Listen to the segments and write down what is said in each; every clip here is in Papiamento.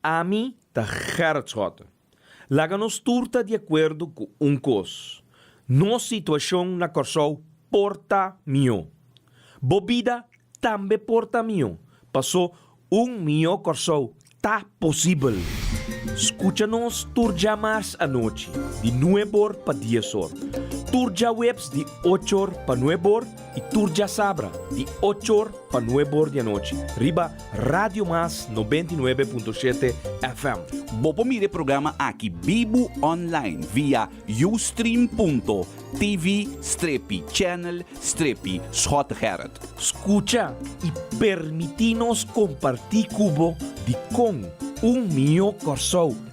Ami ta Gerrit Schotten. Laga nos tur ta di akuerdo ku un kos, nos situashon na Kòrsou por ta mihó. Bo bida tambe por ta mihó, pasó un mihó Kòrsou ta posibel! Skucha nos tur dja mars anochi di nuebor pa diesor, tur djaweps di ochor pa nuebor, Y tur djasabra di ocho or pa nuebe or di anochi riba Radio Mas noventa y nuebe punto shete FM. Bo por mira e programa aki bibu online via ustream.tv strepi channel strepi Schot Gerrit. Scucha y permiti nos comparti cu bo di con un mihó Corsou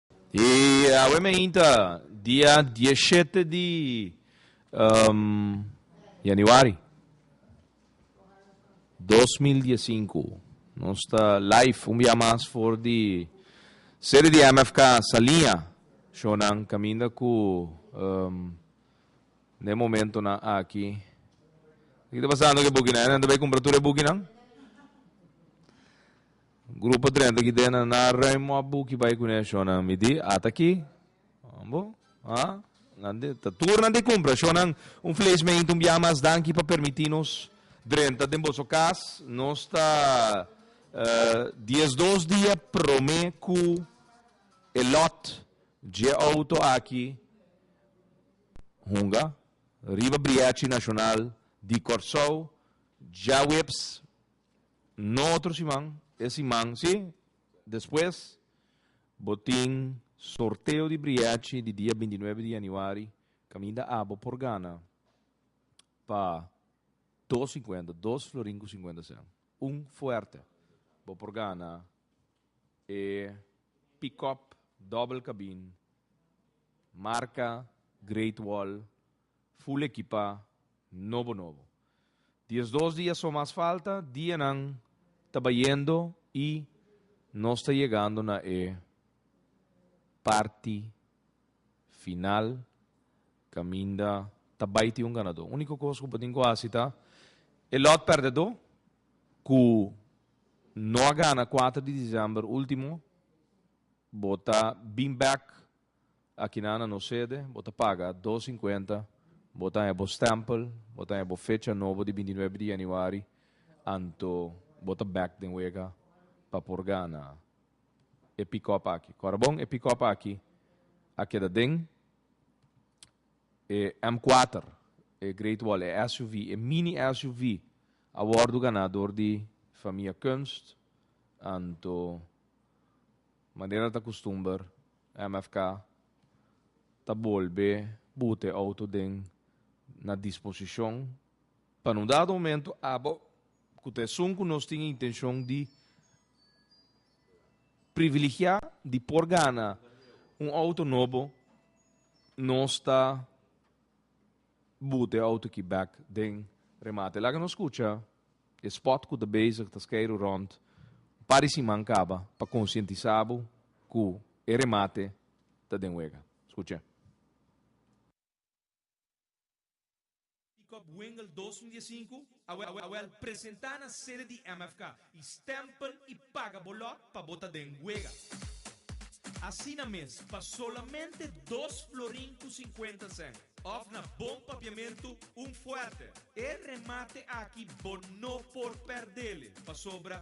E awe meinta, dia dieshete di yanuari dos mil diesinku, nos ta live un bia mas for di sede di MFK Saliña, shownan kaminda ku den momentunan aki. Kiko ta pasando ku e bukinan? Esnan ta bai kumpra tur e bukinan? Grupo drenta ki den a na Raymond a buki bai ku ne shownan mi di ata aki bo a nan di ta tur nan di kumpra shownan un fles meintu un biaha mas danki pa permiti nos drenta den boso kas nos ta dies dos dia prome ku e lot dje outo aki hunga riba briachi nashonal di Kòrsou djaweps No otro siman, e siman si, despues bo tin sorteo di briachi di dia binti nuebe di januari kaminda a bo por gana pa dos sinkuenta, dos florin ku sinkuenta sèn. Un fuerte. Bo por gana e pick-up double cabin marka Great Wall. Full ekipá, nobo nobo. Diesdos dia so mas falta, dianan ta bayendo i nos ta yegando na e parti final kaminda ta bai tin un ganadó. Úniko kos ku bo tin ku hasi ta e lòt pèrdedó ku no a gana kuater di desèmber último, bo ta bin bèk Akinan na nos sede bo ta paga dos sinkuenta, bo ta haña bo stèmpel, bo ta haña bo fecha nobo di binti nuebe di yanüari, anto bo ta bèk den wega pa por gana e pick-up aki. Kòrabon, e pick-up aki a keda den e M kuater, e Great Wall, e SUV, e mini SUV a wòrdu ganá dor di famia Kunst, anto manera ta kustumber, MFK ta bolbe buta e outo den na disposishon pa nu dado momentu aba ku ta esun ku nos tin intenshon di priviligiá di por gana un outo nobo, nos ta Bote e auto ki bek den remate. Laga nos skucha e spot ku ta bezig ta skeiru rònt un par di siman kaba pa konsientisá bo ku e remate ta den wega. Skucha. Pickup Wengel dos mil dies sinku. Awel presenta na sede di MFK y stempen y paga bo lot pa bo ta den wega. Asina mes pa solamente dos florin cu cincuenta cent of na bon papiamento un fuerte. E remate aki bo no por perdele pasobra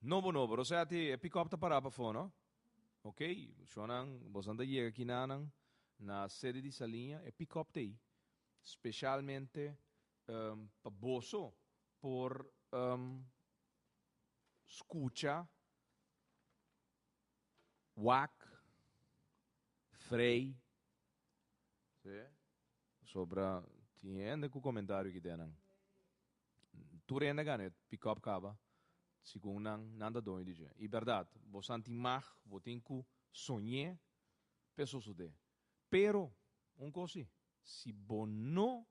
Nobo nobo, Roseti, e pickup ta pará pafó no. Ok, shonnan, bosnan ta yega kinanan na sede di Saliña, e pickup ta ei specialmente pa boso por scucha wak, frei, pasobra tin hende cu comentario aquí te nan. Tur hende a gana e pickup caba, segun nan, nan ta doño di dje. I berdad, bo santi mag, bo tin cu soñe p'e sosode. Pero, un cos si, si bo no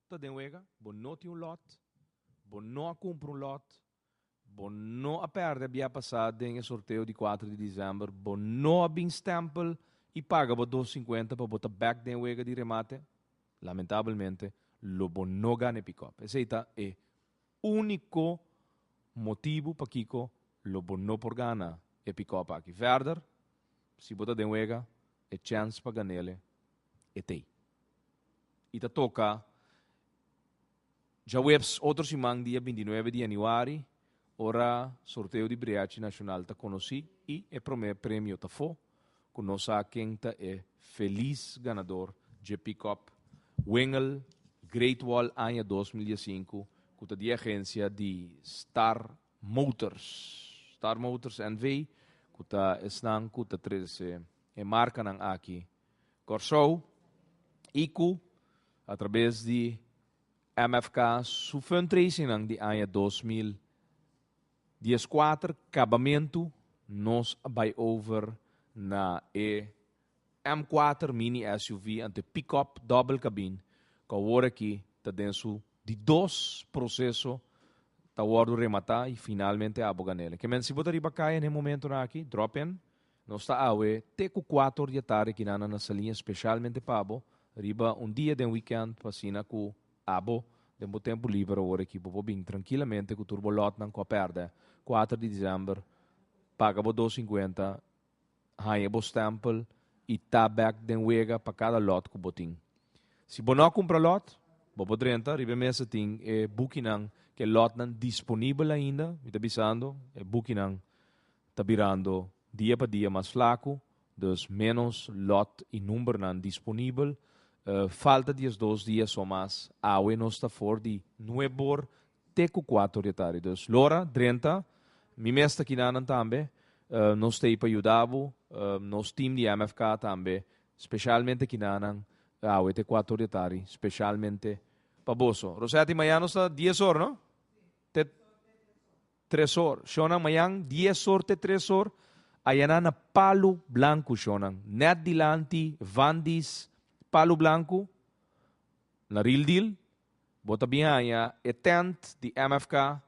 ta den wega, bo no tin un lot, bo no a cumpra un lot, Bo no a perde bia pasá den e sorteo di kuater di disember? Bo no a bin stèmpel i paga bo dos sinkuenta pa bo ta bèk den e wega di remate? Lamentabelmente lo bo no gana e pickup. Esei ta e úniko motibu pakiko lo bo no por gana e pickup aki. Verder, si bo ta den wega, e chèns pa gan'el e t'ei. I ta toka Djaweps otro siman dia bintinuebe di januari ora sorteo di Briachi Nashonal ta konosí i e promé premio ta fo ku nos sa ken ta e felis ganador dje pickup Wingel Great Wall aña dos mil diesinku ku ta di agensia di Star Motors Star Motors NV ku ta esnan ku ta trese e markanan aki Kòrsou, i ku a trabes di MFK su fundraisingnan di aña dos mil dies kuater kabamentu nos a bai over na e M kuater mini SUV ante pick-up dòbel kabin ku awor aki ta den su di dos proseso ta wòrdu rematá i finalmente abo gan'el. E ke menti si bo ta riba kaya na e momentunan aki, drop-in. Nos ta awe te ku kuator di atarde kinana na salí espesialmente pa bo riba un dia den wikènt pa asina ku abo den bo tempu liber awor aki bo por bin trankilamente ku tur bo lòtnan ku a pèrdè. Kuater di Disember paga bo dos sinkuenta, haña bo stèmpel i ta bèk den wega pa kada lòt ku bo tin. Si bo no a kumpra lòt, bo por drenta riba e mes ta tin e bukinan ku e lòtnan disponibel ainda, mi ta bisando, e bukinan ta birando dia pa dia mas flaku, dus ménos lòt i numbernan disponibel. Falta diesdos dia so mas, awe nos ta for di nue bor te ku kuato di atari. Dus lora, drenta, mi mes ta kinanan tambe. Nos t'ei pa yuda bo, nos tim di MFK tambe, speshalmente kinanan, awe te kuato di atari, speshalmente pa boso. Rosetti, mañana nos ta dies or, no? Te Tresor, shonnan mayan, dies sorte tresor ayaná na palu blanku, shonnan, nèt dilanti, vandis, palu blanku, na ril dil, bo ta bin haña e tènt di MFK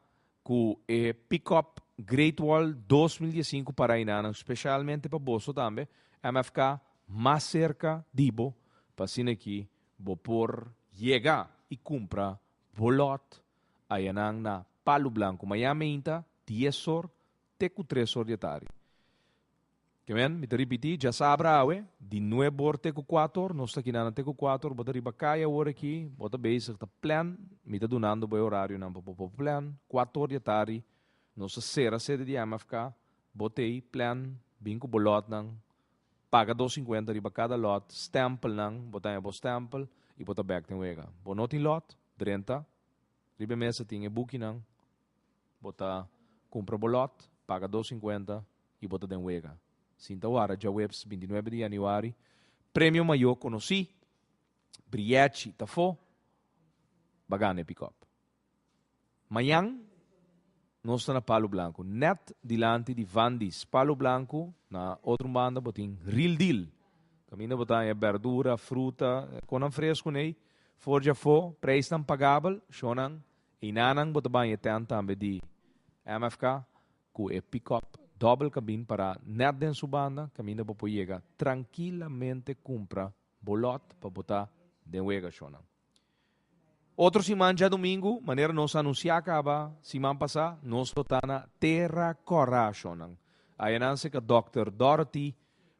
ku e pick-up Great Wall dos mil die sinku pa Rainanan, speshalmente pa boso tambe, MFK mas serka di bo, pa asin'aki bo por yega i kumpra bo lòt. Ayanan na Palu Blanku mayaminta dies or te ku tres or di atari. Ke men, mi ta ripití, djasabra awe, di nueb or te ku kuat or, nos ta kinana te ku kuat or, bo ta riba kai awor aki, bo ta bezig ta plan, mi ta dunando bo e orarionan pa bo por plan, kuat or di atari nos ta sera sede di MFK, bo tei, plan, bin ku bo lòtnan, paga dos sinkuenta riba kada lòt, stèmpelnan, bo ta haña bo stèmpel i bo ta bèk den wega. Bo no tin lòt? Drenta, riba e mesa tin e bukinan, bo ta kumpra bo lòt, paga dos sinkuenta i bo ta den wega. Sinta wara, djaweps binti nuebe di yanüari, premio mayó konosí, Brièchi Tafó, ba gana e pikòp. Mañan nos ta na Palu Blanku, nèt dilanti di Vandi's. Palu Blanku, na otro banda bo tin Real Deal. Kaminda bo ta haña bèrdura, fruta, kon nan fresku n'ei for dje afó, preisnan pagabel, shonnan, einanan bo ta bai e tènt tambe di MFK ku e pick-up dòbel kabin pará nèt den su banda kaminda bo por yega trankilamente kumpra bo lòt pa bo ta den wega, shonnan. Otro siman djadumingu, manera nos a anunsiá kaba siman pasá, nos lo ta na Tera Kòrra ashonnan. Ayanan seka dòkter Dorothy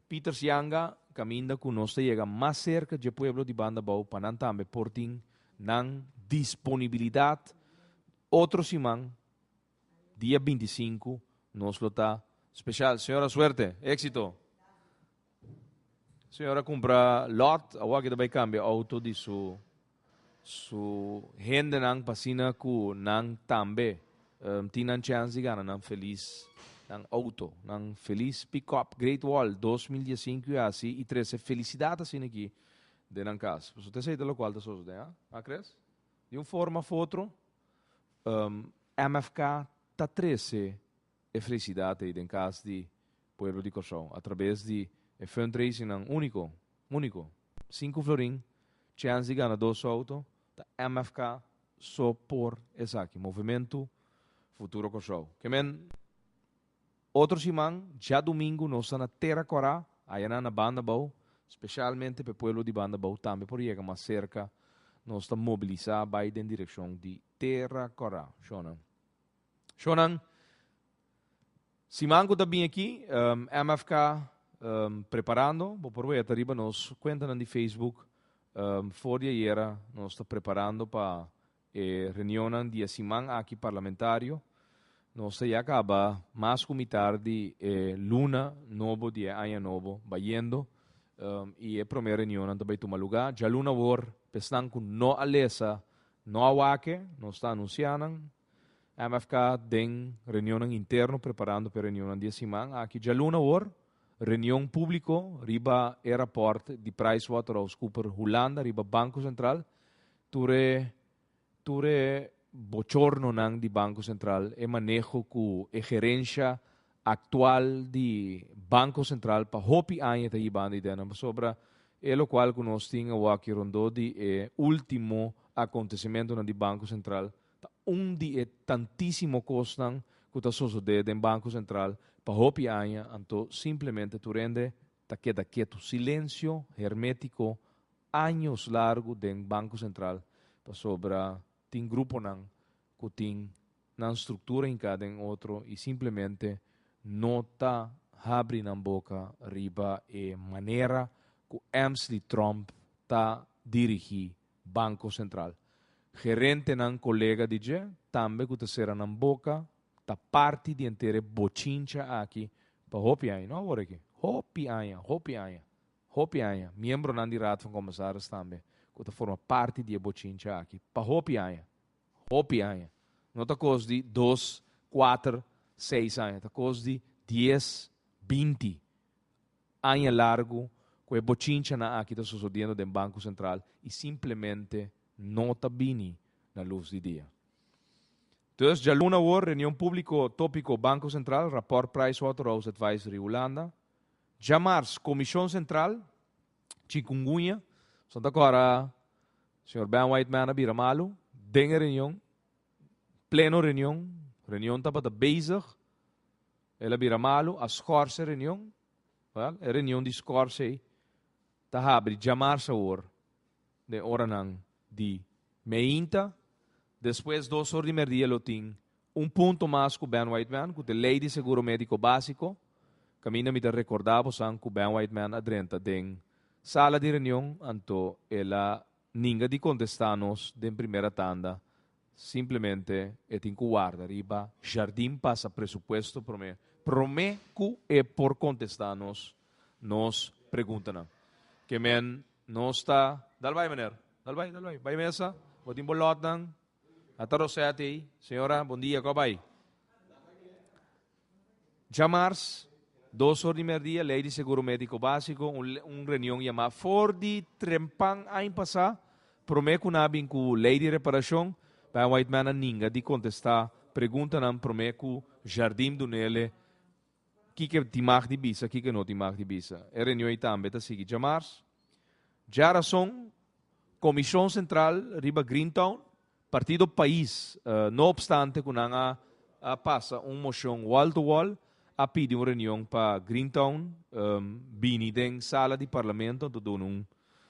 Pieters Yanga kaminda ku nos ta yega mas serka dje pueblo di banda bou pa nan tambe por tin nan disponibilidat otro siman Dia binti sinku nos lo ta special señora suerte exito señora cumpra lot awor aki ta bay cambia auto di su su hendenan pasina cu nan tambe um, tin nan chance di gana nan feliz nan auto nan feliz pick up great wall dos mil dies sinku y asi y trece felicidad asina aki den nan cas pasobra ta esey ta locual ta sosode ha acres di un forma of otro. MFK ta trece e felicidad ey den cas di pueblo di Cor-sou a traves di e fundraisingnan unico, unico, cinco florin, chance di gana dos auto, ta MFK so por esaki, Movimento Futuro Cor-sou. Ke men. Otro siman, djadumingu nos ta na Tera Kòrá, ayanan na Bandabou, spesialmente p'e pueblo di Bandabou tambe por yega mas serka, nos ta mobilisá bai den direkshon di Tera Kòrá. Shònan. Shònan, siman ku ta bin aki, MFK preparando, bo por weta riba nos kuentanan di Facebook, for di ayera nos ta preparando pa. E reunionnan di e siman aki parlamentario nos ta ya kaba mas ku mitar di e luna nobo di e aña nobo bayendo i e promé reunionnan ta bai tuma lugá. Djaluna awor, pa esnan ku no a lesa, no a wak-e, nos ta anunsiá nan MFK den reunionnan interno preparando pa e reunionnan di e siman aki djaluna awor, reunion públiko riba e rapòrt di PriceWaterhouseCooper Hulanda riba Banko Sentral Tur e tur e bochornonan di Banco Central, e maneho cu e gerencia actual di Banco Central pa hopi aña ta hibando idea nan pasobra e locual cu nos tin awaki rondó di e ultimo acontecimentonan di Banco Central ta un di e tantisimo cosnan cu ta sosode den Banco Central pa hopi aña anto simplemente tur hende Ta keda ketu, silensio hermetiko, años largu den Banko Sentral pasobra tin gruponan ku tin nan struktura hinká den otro i simplemente no ta habri nan boka riba e manera ku Amsli Tromp ta dirigí Banko Sentral. Gerentenan kolega di dje tambe ku ta sera nan boka Ta parti di henter e bochincha aki pa hopi aña, no awor aki, hopi aña, hopi aña, hopi aña, miembronan di Raad van Commissaris tambe cu ta forma parti di e bochincha aki pa hopi aña, hopi aña, no ta cos di dos, cuater, seis aña, ta cos di dies, binti aña largu cu e bochinchanan aki ta sosodiendo den Banco Central y simplemente no ta bini na luz di dia. Dus djaluna awor, reunion públiko tópiko Banko Sentral, rapòrt Pricewaterhouse Advisory Hulanda, djamars Komishon Sentral, chikungunya, Santa Cora, señor Ben Whiteman a bira malu, den e reunion, pleno reunion, reunion tabata bezig, el a bira malu, a skòrse e reunion, wèl, e reunion di skòrse ei ta habri djamars awor, den oranan di meinta, despues dos or di merdia lo tin un punto mas cu Ben Whiteman cu te ley di seguro medico basico, caminda mi ta recorda bosan cu Ben Whiteman a drenta den sala di reunion anto el a ninga di contesta nos den primera tanda Simplemente e tin cu warda riba jardin pasa presupuesto prome, prome cu e por contesta nos nos preguntanan. Ke men nos ta, dal bay meneer, dal bay, dal bay, bay mesa, bo tin bo lotnan, a ta Rosette ey, señora, bon dia, cu a bay? Djamars, dos or di merdia, Lei di Seguro Médiko Básiko, un reunion yamá for di trempan ain pasá, promé ku nan a bin ku Lei di Reparashon, Pam Whiteman a ninga di kontestá preguntanan promé ku Jardim do Nele kiko tin mag di bisa, kiko no tin mag di bisa. E reunion ei tambe ta sigui djamars. Djarason, Komishon Sentral riba Greentown, Partido Pais, no opstante cu nan a pasa un mocion wall to wall, a pidi un reunion pa Greentown bini den sala di Parlamento anto duna un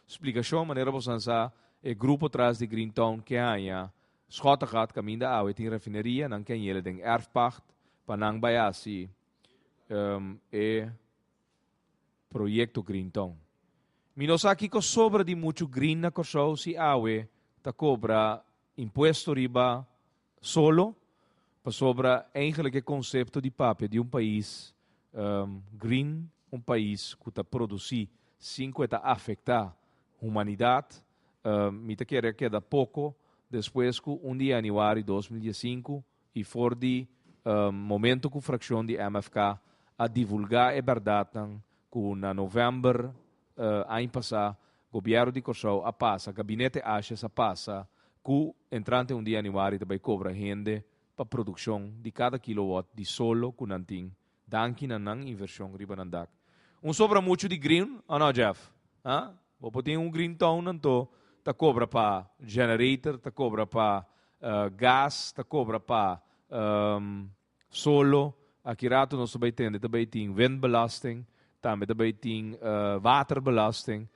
splicacion. Manera bosonan sa e grupo tras di Greentown ke haña Schottegat, caminda awe tin rafineria, nan ke hañela den erfpacht pa nan bay haci e. Proyecto Green Town. Mi no sa kico sobra di muchu green na Corsou si awe ta cobra impuesto riba solo, pasobra eigenlijk e concepto di papia di un pais green, un pais cu ta produci sin cu e ta afecta humanidad, mi ta kere keda poco despues cu un di Januari dos mil dies sinku I for di momento ku frakshon di MFK a divulgá e bèrdatnan ku na novèmber aña pasá Gobièrnu di Kòrsou a pasa, Gabinete Ashes a pasa ku entrante un di yanüari ta bai kobra hende pa produkshon di kada kilowòt di solo ku nan tin Danki na nan invershon riba nan dak. Un sobra muchu di green, o no Jeff? Ha? Bo por tin un green town anto ta cobra pa generator, ta cobra pa gas, ta cobra pa solo. Aki rato nos ta bay tende ta bay tin windbelasting. Tambe ta bay tin waterbelasting.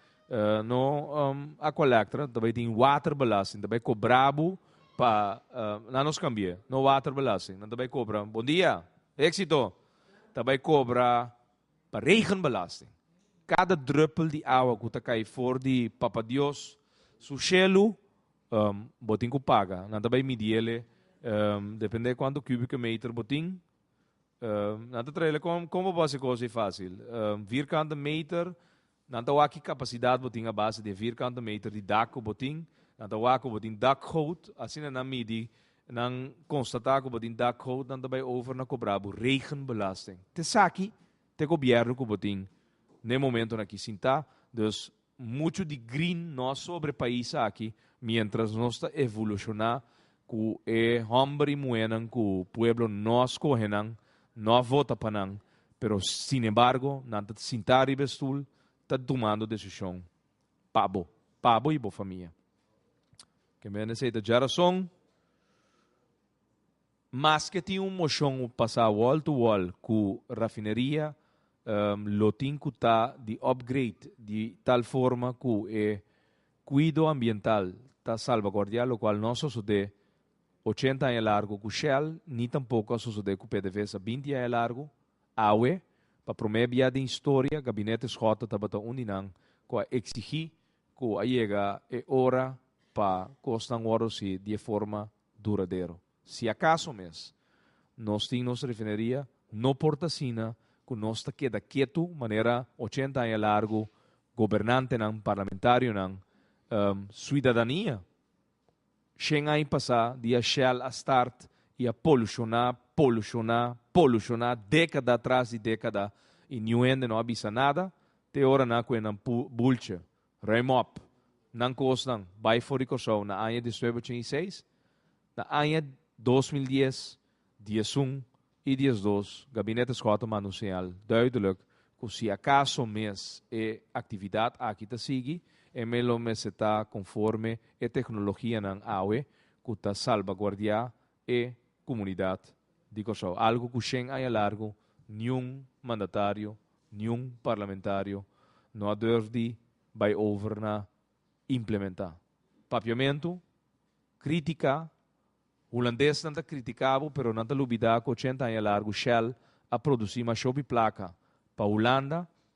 No Aqualectra, ta bay tin waterbelasting. Ta bay cobra bo pa, nan nos cambi'e. No waterbelasting. Nan ta bay cobra, bon dia, exito! Ta bay cobra pa regenbelasting. Cada druppel di awa cu ta cay for di Papa Dios su shelu, bo tin cu paga. Nan ta bay midi ele, depende cuantu cubieke meter bo tin. Nan ta traela con con bo base cos ei facil. Vierkante meter, nan ta wak ki capacidad bo tin a base di e vierkante meter di dak cu bo tin. Nan ta wak cu bo tin dakgoot, asina nan midi, nan constata cu bo tin dakgoot, nan ta bay over na cobra bo regenbelasting. Te esaki, te gobierno cu bo tin na e momentonan aki sinta, dus Muchu di grin nos sobre pais aki mientras nos ta evoluciona cu e homber y muhernan cu pueblo no a scohe nan, no a vota pa nan, pero sin embargo nan ta sinta riba e stoel ta tumando decision pa bo, pa bo y bo famia. Kimbia nan esey ta dja rason? Maske tin un moshon pa sa wall to wall ku rafineria lo tin ku ta di upgrade di tal forma ku e kuido ambiental ta salvaguardiá lokual no a sosodé ochenta aña largu ku Shell ni tampoko a sosodé ku PDVSA binti aña largu, awe pa promé bia den historia Gabinete Schotten tabata un di nan ku a eksigí ku a yega e ora pa kosnan wòrdu hasi di e forma duradero. Si acaso mes nos tin nos refineria, no por ta asina cu nos ta keda ketu manera ochenta aña largu gobernantenan, parlamentarionan, suidadania shen ai pasa di a shell a start y a poluciona, poluciona, poluciona decada tras di decada y niu hende no a bisa nada te ora na cu e nan bultje Remop, Nan kosnan bai for di Kòrsou na aña despues ochenta i seis. Na aña dos mil dies, diesun i diesdos Gabinete Scott a manda un señal duideluk ku si akaso mes e aktividat aki ta sigui, e mes lo mester ta konforme e teknologianan awe ku ta salbaguardiá e kumunidat di Kòrsou, algu ku shen aña largu niun mandatario, niun parlamentario no a durf di bai over na implementá. Papiamentu, kritiká, hulandesnan ta kritiká bo pero nan ta lubidá ku ochenta aña largu Shell a produsí mashopi plaka pa Hulanda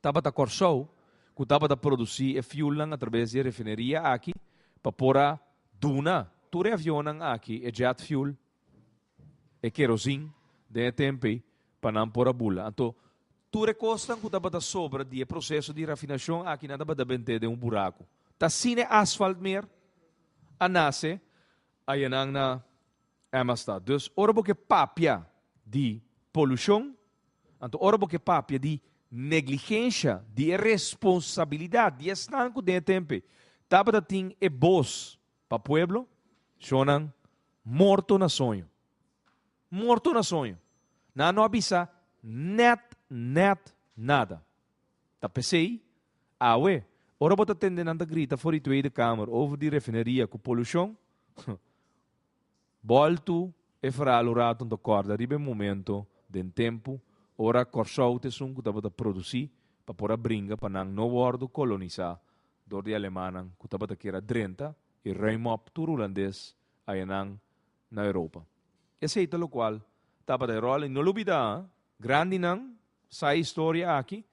tabata Kòrsou ku tabata produsí e fiulnan atraves di e refineria aki pa por a duna tur e avionnan aki e jet fuel, e kerosene den e tempu ei pa nan por a bula. Anto tur e kosnan ku tabata sobra di e proseso di rafinashon aki nan tabata bent'é den un buraku. Ta sin e asfalt mer a nase, aya nan na. E mas ta. Dus ora bo ke papia di polushon, anto ora bo ke papia di negligensha, di e responsabilidat di esnan ku den e tempe tabata tin e bos pa pueblo, shonnan morto na soño. Morto na soño. Nan no a bisa nèt, nèt nada. Ta p'esei, awe, ora bo ta tende nan ta grita for di Tweede Kamer over di refineria ku polushon, Boltu e ferral un ratu nta corda riba e momento den tempu ora Corsou te esun cu tabata produci pa por a bringa pa nan no wordo colonisa door di Alemanan cu tabata kier a drenta y ruim op tur Hulandes ayanan na Europa. Esey ta locual tabata e rol y no lo bida ha, grandinan sa e historia aki,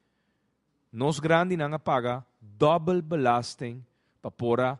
nos grandinan a paga dobbel belasting pa por a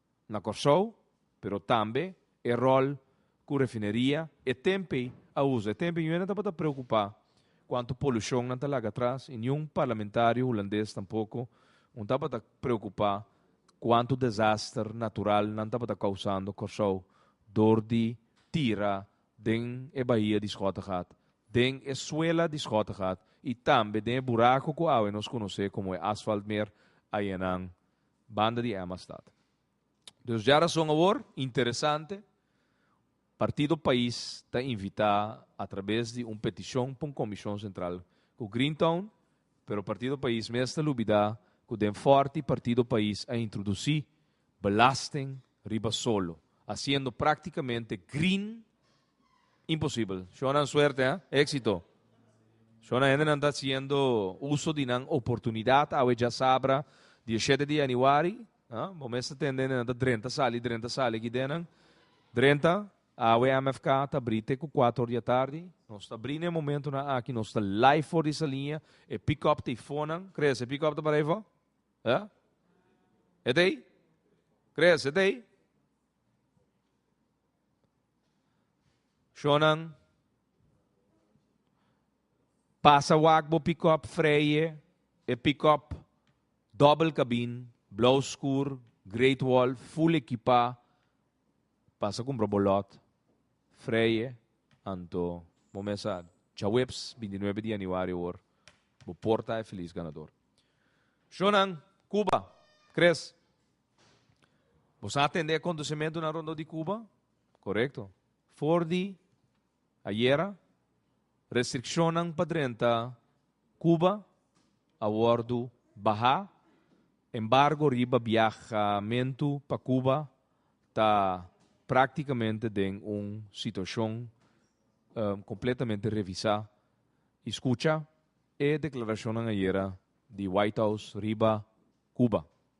na Kòrsou, pero tambe e ròl ku refineria e tempe a usa. E tempe Yuen a tabata preokupá ku anto polushon nan ta laga atras i niun parlamentario hulandes tampoko un tabata preokupá ku anto desaster natural nan tabata kousando Kòrsou dor di tira den e bahia di Schottegat, den e suela di Schottegat i tambe den e burako ku awe nos konosé komo e Asfaltmeer ayenan Banda di Emma Stad. Dus dja rason awor interesante, Partido Pais ta invitá a trabes di un petishon pa un komishon sentral ku Greentown, pero Partido Pais mes ta lubidá ku den Fòrti Partido Pais a introdusí belasting riba solo, hasiendo práktikamente green Imposibel. Shona suerte, ha? Éxito. Shona hendenan ta haciendo uso di nan oportunidad awe djasabra 17 di januari. Ha? Bo mester tende hendenan ta drenta sali, drenta sali aki denan. Drenta, awe MFK ta bri te ku 4 or di atardi. Nos ta bri n'e momentonan aki, nos ta live for di sa liña. E pick-up ta ei fonan. Chris, e pick-up ta para ei fo? Ha? E ta ei? Chris, e ta ei? Shonnan, pasa wak bo pick-up Freije, e pick-up doble cabin, blauw skur, great wall, full ekipa, pasa kumpra bo lot Freije, anto bo mesa djaweps bintinuebe di yanüari awor bo por ta e feliz ganador. Shonnan, Cuba, Chris. Bo sa atende e kontosementunan rondó di Kuba? Korekto. For di ayera, restrikshonnan pa drenta Kuba a wòrdu bahá. Embargo riba biahamentu pa Kuba ta práktikamente den un situashon kompletamente revisá. I skucha e deklarashonnan ayera di White House riba Kuba.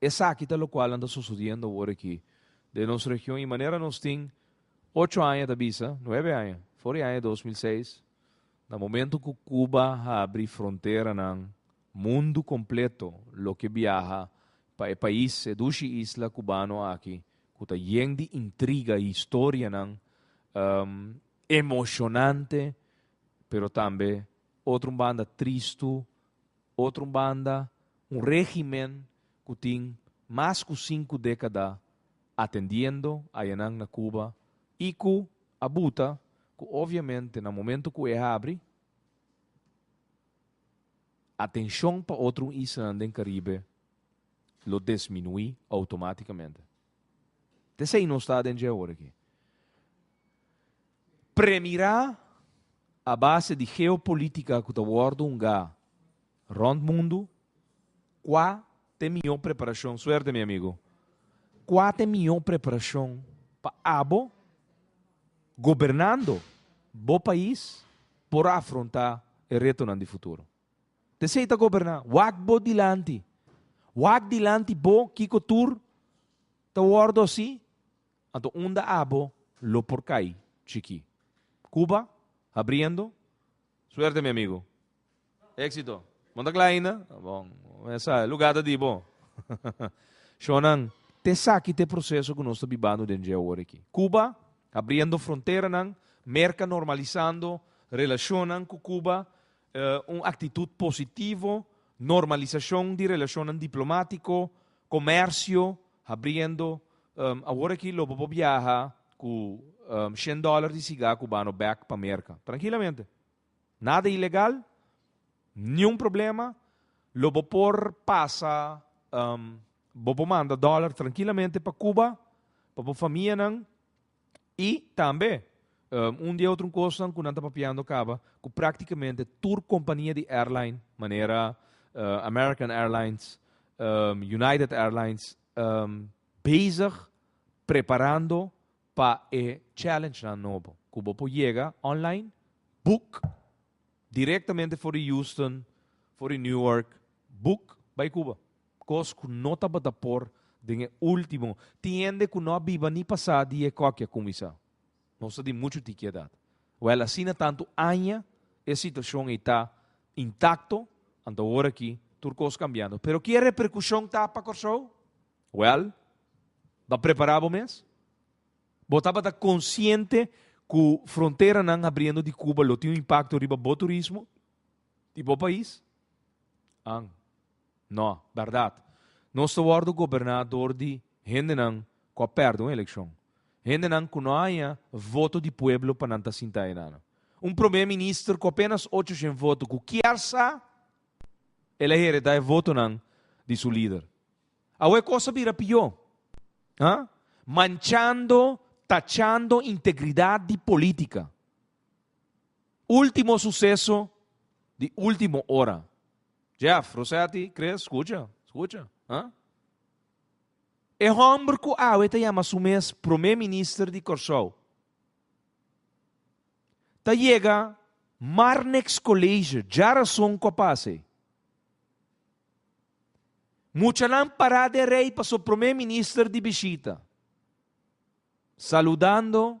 Esaki ta lokual nan ta sosodiendo awor aki den nos region i manera nos tin ocho aña ta bisa, nuebe aña, for di aña dos mil seis, na momento ku Cuba habri fronteranan, mundu kompleto loke biaha pa e pais, e dushi isla kubano aki ku ta yen di intriga, historianan emoshonante, pero tambe otro un banda tristu, Otro banda, un régimen ku tin mas ku sinku dékada atendiendo hayanan na Cuba i ku a buta ku obviamente na momentu ku e habri atenshon pa otro islanan den Caribe lo desminuí outomátikamente. T esei nos ta den dje ora akí. Premirá, a base di geopolitica cu ta wordo hungá rond mundo, cua ta e miho preparacion, suerte mi amigo, cua ta e miho preparacion pa abo, gobernando bo pais, por afrontá e retonan di futuro? T'esey ta goberná, wak bo dilanti, wak dilanti bo kico tur ta wordo así Anto unda abo lo por cay, Chiqui? Cuba? Habriendo? Suerte mi amigo. Exito. Bon ta cla ainda? Ta bon. Mesa, e lugar ta di bo. Shonan, t'esaki t'e proceso cu nos ta bibando den dje awor aki. Cuba, habriendo fronteranan, Merca normalizando relacionnan cu Cuba, un aktitut positivo, normalisashon di relashonnan diplomátiko, komèrsio habriendo, awor aki lo bo por biaha ku shen dòler di sigá kubano bèk pa Merka, trankilamente. Nada ilegal, niun problema, lo bo por pasa, bo por manda dòler trankilamente pa Kuba, pa bo famianan, I tambe un di e otro kosnan ku nan ta papiando kaba ku praktikamente tur kompania di airline manera American Airlines, United Airlines bezig preparando pa e challenge-nan nobo ku bo por yega online boek direktamente for di Houston, for di Newark boek bai Cuba. Kos ku no tabata por den e último. Tin hende ku no a biba ni pasá di e kòki a kuminsá. Nos ta di muchu tiki edat. Wèl asina tantu aña e situashon ei ta intakto, anto ora aki tur kos kambiando. Pero ki e reperkushon ta pa Kòrsou? Wèl, ta prepará bo mes. Bo tabata konsiente ku fronteranan habriendo di Kuba lo tin un impakto riba bo turismo di bo pais? An. No, berdad. Nos ta wordo goberná dor di hendenan cu a perde un eleccion. Hendenan cu no a haña voto di pueblo pa nan ta sinta eynano. Un prome minister cu apenas ocho shen voto cu kier sa el a heredá e votonan di su lider. Awe e cos a bira pió, ha? Manchando, tachando integridad di politica. Ultimo suseso di ultimo ora. Jeff, Rosetti, Chris, scucha, scucha, ha? E homber cu awe ta yama su mes Prome Minister di Corsou ta yega Marnex College, dja rason cu a pasa ey. Muchanan para den rey paso Prome Minister di bishita. Saludando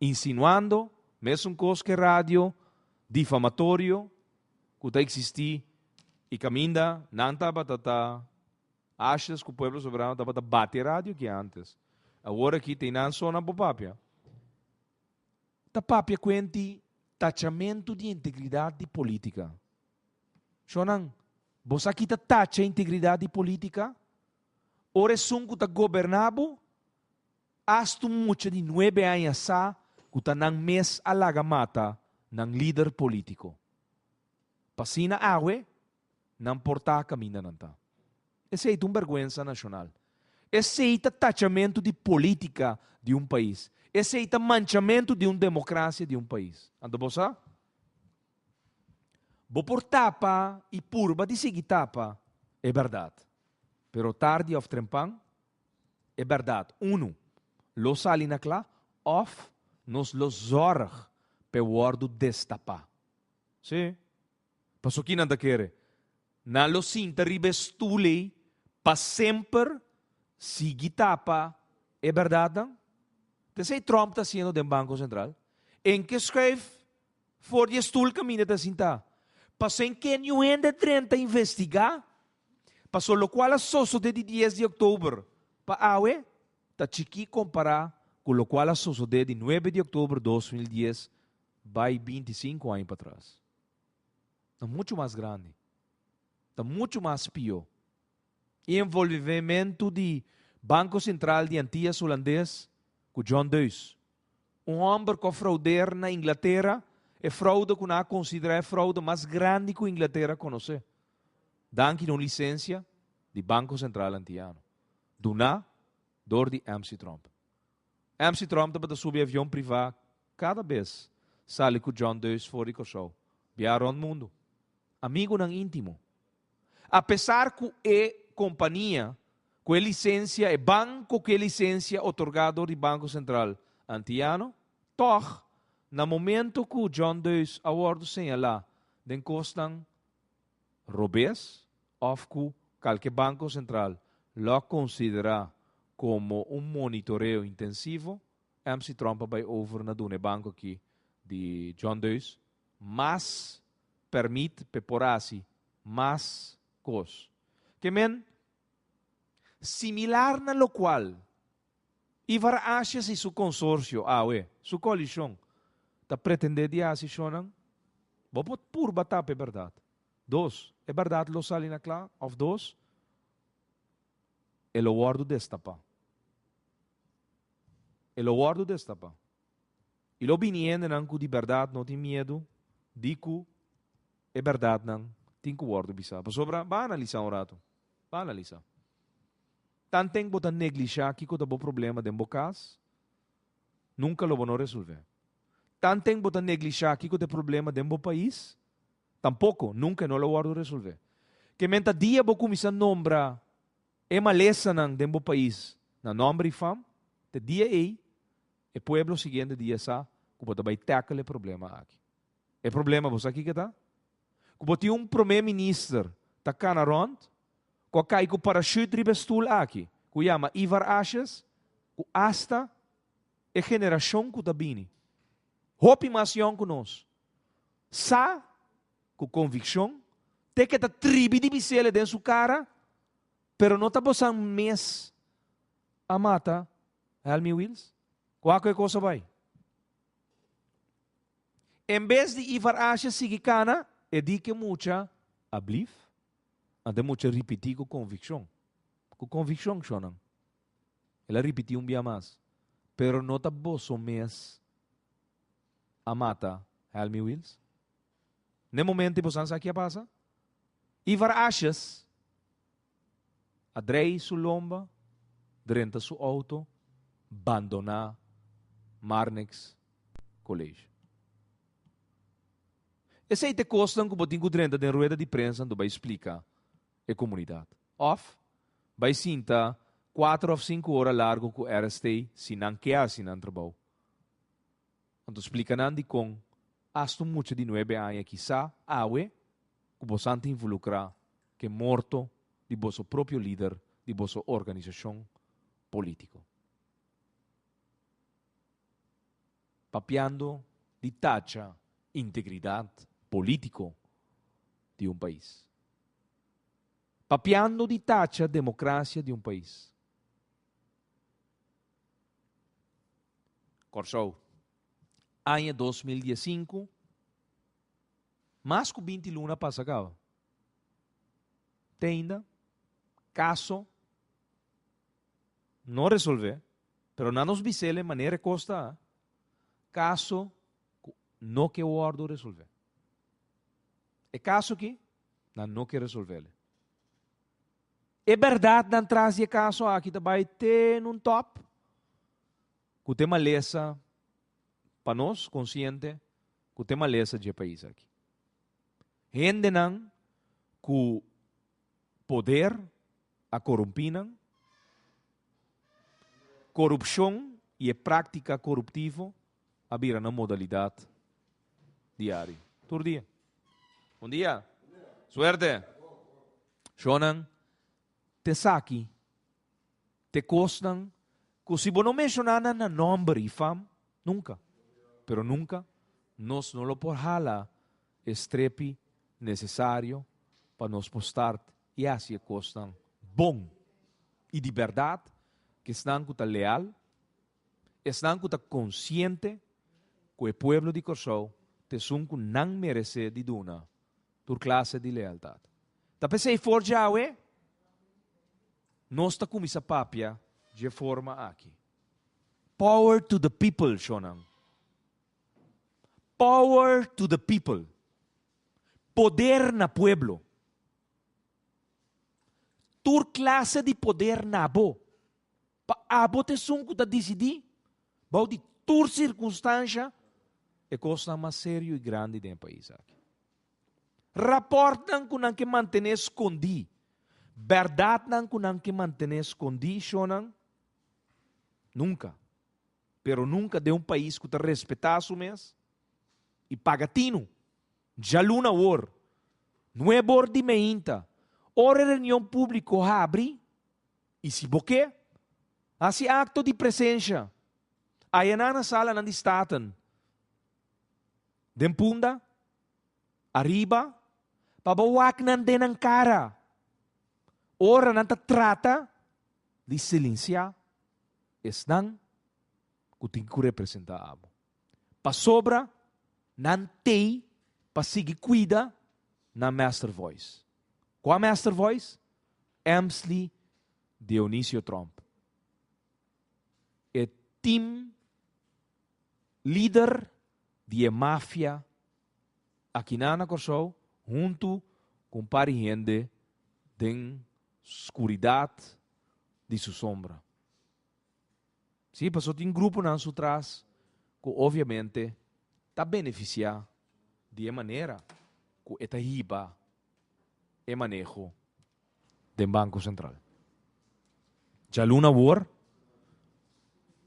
insinuando, mesun kos ku e radio difamatorio ku ta eksistí. I kaminda nan tabata ta ashas ku pueblo soberano tabata bati e radio ke antes. Awor aki ta e nan so nan por papia. Ta papia kuenti tachamentu di integridat di politika. Shonnan, bo sa ki ta tacha integridat di politika? Ora esun ku ta goberna bo? Hasta un mucha di nuebe aña sa cu ta nan mes a laga mata nan lider politico. P'asina awe nan por ta caminda nan ta. Esey ta un berguensa nacional. Esey ta tachamentu di politica di un pais. Esey ta manchamentu di un democracia di un pais. Anto bo sa? Bo por tapa y purba di sigui tapa e berdad. Pero tardi of trempan E bèrdat, unu, lo sali na kla òf nos lo zòrg pa e wòrdu destapá. Sí. Pasó ki nan ta kere? Nan lo sinta riba e stul ei pa semper sigui tapa e bèrdatnan? Ta esei Trump ta hasiendo den Banko Sentral. Ein ke skuif for di e stul kaminda ta sintá. Pasó ein ke niun hende drenta investigá Paso lokual a sosodé di dies di oktober pa awe ta chikí kompará ku lokual a sosodé di nuebe di oktober dos mil dies bai binti sinku aña patras. Ta muchu mas grandi. Ta muchu mas pió. E envolvimentu di Banko Sentral di Antias Hulandes ku John Deus, un hòmber ku a froudeer na Inglatera, e froude ku nan a konsiderá e froude mas grandi ku Inglatera konosé. Danki na un lisensia di Banko Sentral Antiano, duná dor di MC. Trump. MC. Trump tabata subi avion privá kada bes sali ku John Deus for di Kòrsou, biaha rònt mundu, amigunan íntimo. Apesar ku e kompania ku e lisensia, e banko ku e lisensia otorgá dor di Banko Sentral Antiano, tòg na momentu ku John Deus a wòrdu señalá den kosnan robes of cu calke Banco Central lo a considera como un monitoreo intensivo, MC Trump a bay over na duna e banco aki di John Deus mas permit p'e por haci mas cos. Ke men, similar na locual Ivar Asjes i su konsorsio, awe, su koalishon, ta pretendé di hasi shonnan? Bo por purba tapa e bèrdat. Dos, e bèrdat lo sali na kla, òf dos, e lo wòrdu destapá. E lo wòrdu destapá. I lo bini hendenan ku di bèrdat no tin miedu di ku e bèrdatnan tin ku wòrdu bisá. Pasobra, ba analisá un ratu. Ba analisá. Tan teng bo ta neglishá kiko ta bo problema den bo kas, nunka lo bo no resolv'é. Tan teng bo ta neglishá kiko ta e problema den bo pais, tampoko, nunka e no lo wòrdu resolv'é. Ke men ta dia bo kuminsá nombra e malesanan den bo pais na nòmber i fam, te dia ei e pueblo siguiente dia sa ku bo ta bai tackle e problema aki. E problema bo sa kiko ta? Ku bo tin un promé minister ta kana rònt, ku a kai ku parashüt riba e stul aki, ku yama Ivar Asjes, ku asta e generashon ku ta bini, hopi mas yòn ku nos, sa ku konvikshon, te ke ta tribi di bisele den su kara, Pero no ta bosan mes a mata Helmy Wils? Kua ku e kos a bai? En bes di Ivar Asha sigui kana, e di ke mucha, Ablief? Anta e mucha ripití ku konvikshon. Ku konvikshon shonnan. El a ripití un bia mas, Pero no ta boso mes a mata Helmi Wils? Na e momentu boso a sa ke a pasa? Ivar Ashas a drei su lomba, drenta su outo, bandoná Marnix College. Esei t'e kosnan ku bo tin ku drenta den rueda di prensa do bai splika e komunidat. Òf bai sinta kuater òf sinku ora largu ku RST si nan ke hasi nan trabou. Anto splika nan dikon asta un mucha di nuebe aña kisá awe ku bosan ta involukrá ku e morto di boso propio lider di boso organisashon polítiko. Papiando di tacha integridat polítiko di un pais. Papiando di tacha demokrasia di un pais. Kòrsou. Aña dos mil dies sinku, mas ku binti luna pasa kaba. Teinda, kaso no resolvé, pero na nos bisel e manera e kos ta, kaso ku no ke wòrdu resolvé. E kaso ki nan no ke resolvele. E bèrdatnan tras di e kaso aki ta bai te un tòp ku te malesa pa nos, konsiente ku te malesa dje pais aki. Hendenan ku poder a korumpí nan, korupshon i e práktika koruptivo, a bira na modalidad diari. Tur dia. Bon dia. Suerte. Shonan, ta esaki ta e cosnan cu si bo no menciona nan na nomber y fam, nunca, pero nunca, nos no lo por hala e strepi necesario pa nos por start yaci e cosnan bon y di berdad, ki esnan cu ta leal, Esnan ku ta konsiente ku e pueblo di Kòrsou ta esun ku nan meresé di duna tur klase di lealtat. Ta p'esei for djawe nos ta kuminsá papia dje forma aki. Power to the people, shonnan! Power to the people! Poder na pueblo! Tur klase di poder na abo! Pa abo ta esun ku ta disidí, bou di tur sirkunstansha, e kosnan mas serio i grandi den e pais aki. Rapòrtnan ku nan ke mantené skondí, bèrdatnan ku nan ke mantené skondí, shonnan, nunka, pero nunka den un pais ku ta respetá su mes i paga tinu. Djaluna awor, nuebe or di meinta, ora e reunion públiko habri, I si bo ke hasi akto di presensha ayanan na Salanan di Staten den punda ariba pa bo wak nan den nan kara ora nan ta trata di silensiá esnan ku tin ku representá abo. pasobra nan tei pa sigui kuida nan mester vois. Kua mester vois? Emsley Dionisio Tromp, e tim lider di e mafia aki nan na Kòrsou huntu ku un par di hende den skuridat di su sombra. Sí, pasobra tin gruponan su tras ku obviamente ta benefisiá di e manera ku e ta hiba e maneho den Banko Sentral. Djaluna awor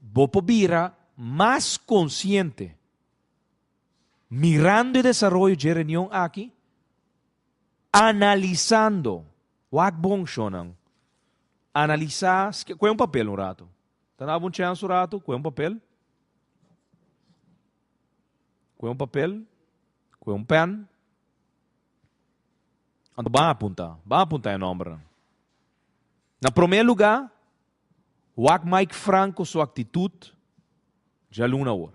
bo por bira mas konsiente mirando e desaroyo dje reunion aki, analisando. Wak bon shonnan. Analisá ske. Kue un papel un ratu. Ta daba un chèns un ratu. Kue un papel. Kue un papel. Kue un pèn. Anto ban apuntá. Ban apuntá e nòmbernan. Na promé lugá, wak Mike Franco su aktitut djalun awor.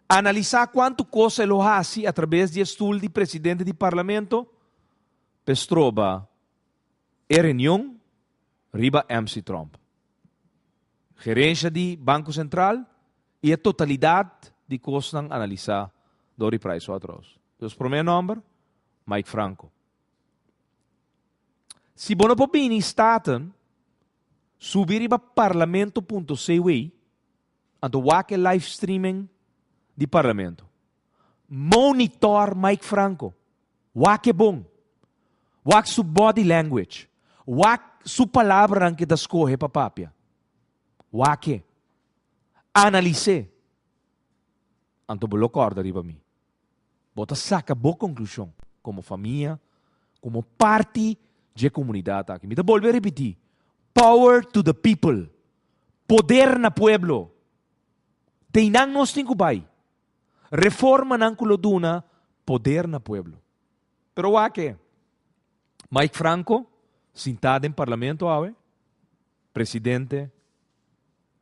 Analisá kuantu kos el lo hasi atrabes di e stul di presidente di parlamento. Pe stroba e reunion riba MC Trump, gerensha di Banco Central y e totalidad di cosnan analisa door di Pricewaterhouse. Nos prome nomber, Mike Franco. Si bo no por bini Staten, subi riba Parlamento punto CW a ta wak e live streaming di Parlamento. Monitor Mike Franco. Wak e bon. Wak su body language. Wak su palabranan ke ta skohe pa papia. Wak e. Analis'é. Anto bo lo kòrda riba mi. Bo ta saka bo konklushon komo famia, komo parti dje komunidat aki. Mi ta bolbe ripití, Power to the people! Poder na pueblo! Ta einan nos tin ku bai. Reformanan ku lo duna poder na pueblo. Pero wak-e, Mike Franco sintá den parlamento awe, presidente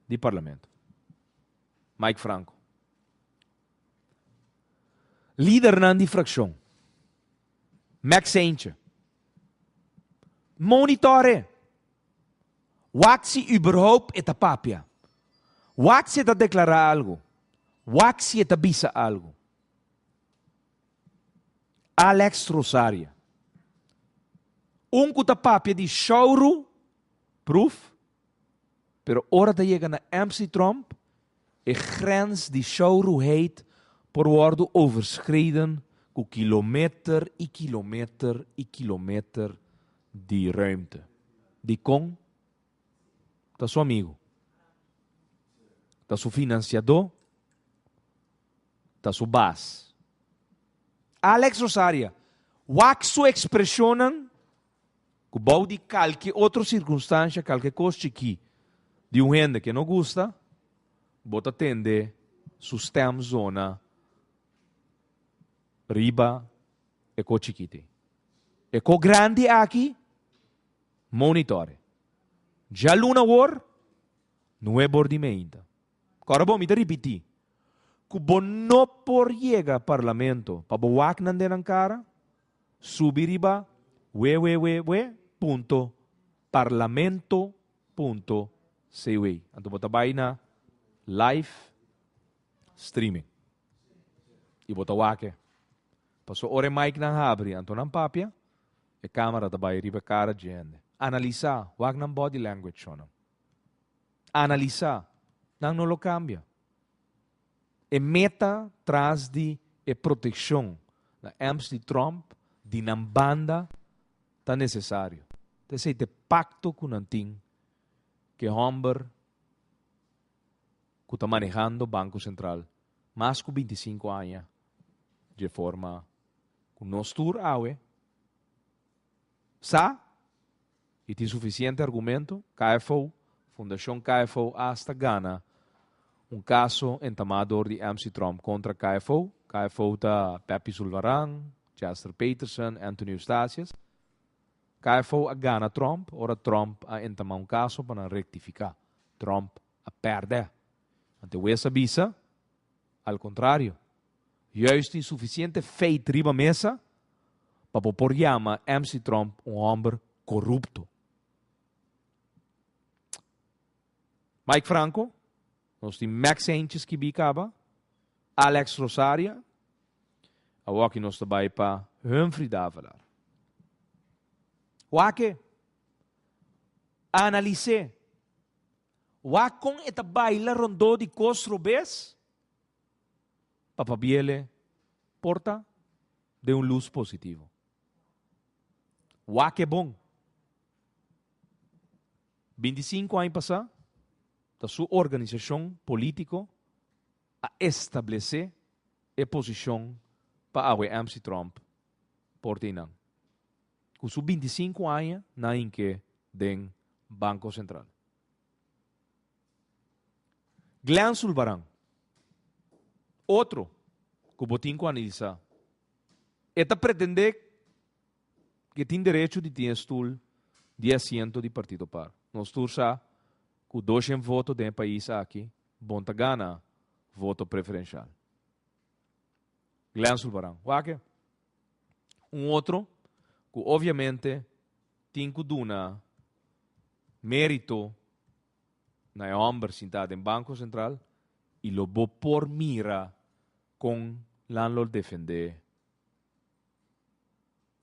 di parlamento. Mike Franco. Lidernan di frakshon. Max Seintje. Monitore. Wak si überhoupt e ta papia. Wak si e ta deklará algu. Wak si e ta bisa algu. Alex Rosaria. Un ku ta papia di Shauru Proef Pero ora ta yega na Amstidromp, e grens di showruheid por wòrdu overskriden ku kilometer i kilometer i kilometer di ruimte. Dikon? Ta su amigu. Ta su finansiadó. Ta su bas. Alex Rosaria, wak su ekspreshonnan? Ku bou di kalke otro sirkunstansha, kalke kos chikí di un hende ke no gusta, bo ta tende su stem zona riba e ko chikí te. E ko grandi aki, monitore. Djaluna wor, nuebe or di meinta. Kòrda bo mi ta ripití, ku bo no por yega parlamento pa bo wak nan den nan kara, Subi riba wewewewe punto parlamento punto cw. Anto bo ta bai na live streaming. Y bo ta wake. Paso ora e mic nan habri anto nan papia, e camera ta bai riba e cara dje hende. Analisa, wak nan body language shonan. Analisa. Nan no lo cambia. E meta tras di e protekshon na Amps di Trump di nan banda ta nesesario. Ta esei ta e pakto ku nan tin ku e hòmber ku ta manehando Banko Sentral mas ku binti sinku aña dje forma ku nos tur awe sa E tin sufisiente argumento? KFO, Fundacion KFO asta gana un kaso entamá dor di MC Trump kontra KFO. KFO ta Pepi Zulvaran, Chester Peterson, Anthony Eustatius. KFO a gana Trump ora Trump a entamá un kaso pa nan rektifiká. Trump a pèrdè. Antewees a bisa, Al kontrario, juis tin sufisiente feit riba mesa pa bo por yama MC. Trump un hòmber korupto. Mike Franco, nos tin Max Heinches ki bi kaba, Alex Rosaria, awoki nos ta bai pa Humphrey de Avelar. Wak e, analis'é. Wak kon e ta baila rondó di kos robes. Papabiele porta den un lus positivo. Wak e bon. Binti sinku aña pasá ta su organisashon polítiko a establesé e posishon pa Awe Amsi Trump por teinan. cu su binti i sinku aña na hink'é den Banco Central. Glen Zulbarán, otro cu bo tin cu analisá. E ta pretendé cu e tin derecho di tin e stoel di e asiento di Partido Par. Nos tur sa cu doshen voto den e pais aki bon ta gana voto preferencial. Glen Zulbarán, wak e. un otro cu obviamente tin cu duna merito na e homber sinta den Banco Central y lo bo por mira con Landlord defende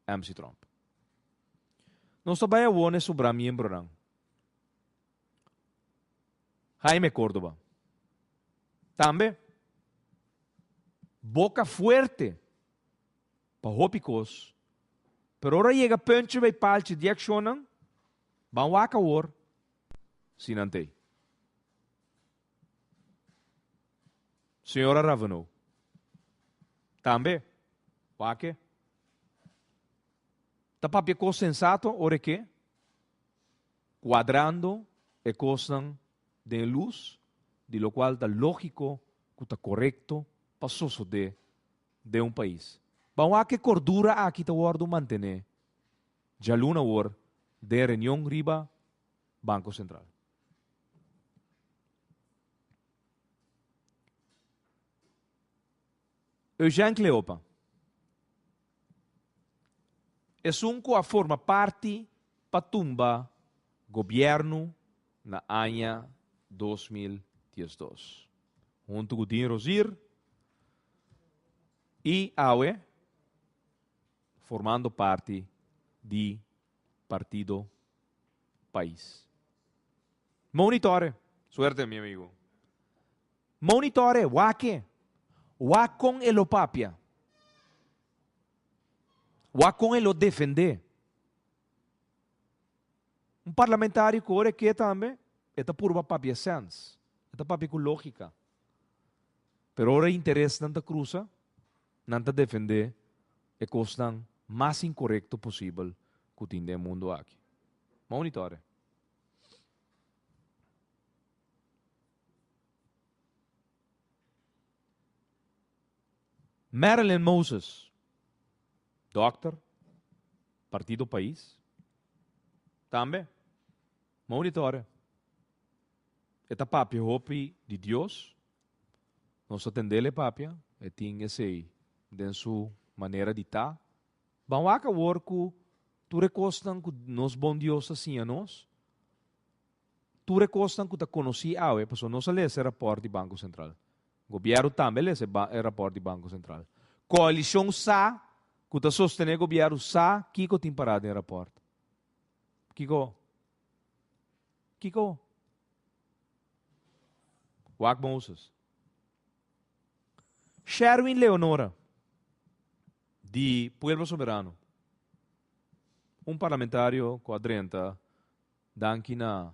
MC Trump. Nos ta bai awor na e sobra miembronan. Jaime Cordoba. Tambe boca fuerte. pa hopi kos, pero ora yega punchi bay palchi di accionnan, ban wak awor si nan t'ey. Señora Raveneau, tambe wake ta papia kos sensato ora e ke, cuadrando e kosnan den lus di lokual ta lógiko ku ta korekto pa sosodé den un pais. Ban wak e kordura aki ta wòrdu mantené djaluna awor den e reunion riba Banko Sentral. Eugène Cleopa esun ku a forma parti pa tumba gobièrnu na aña dos mil dies dos, huntu ku Dean Rosier i awe formando parti di Partido Pais. Monitore! Suerte mi amigo. Monitore, Wake, wak kon e lo papia. Wak kon e lo defende. Un parlamentario ku ora e ke tambe, e ta purba papia sens. E ta papia ku lógika. Pero ora interesnan ta krusa, nan ta defende e kosnan mas inkorekto posibel ku tin den e mundu aki. Monitore. Marilyn Moses, dòkter, Partido Pais, tambe Monitor'e. E ta papia hopi di Dios. Nos ta tendel e papia. E tin esei den su manera di ta. Ban wak awor ku tur e kosnan ku nos Bon Dios ta siña nos. Tur e kosnan ku ta konosí awe, pasobra nos a lesa e rapòrt di Banko Sentral. Gobièrnu tambe a lesa e rapòrt di Banko Sentral. Koalishon sa ku ta sostené gobièrnu sa kiko tin pará den e rapòrt. Kiko? Kiko? Wak Moses. Sherwin Leonora di Pueblo Soberano, un parlamentario ku a drenta Danki na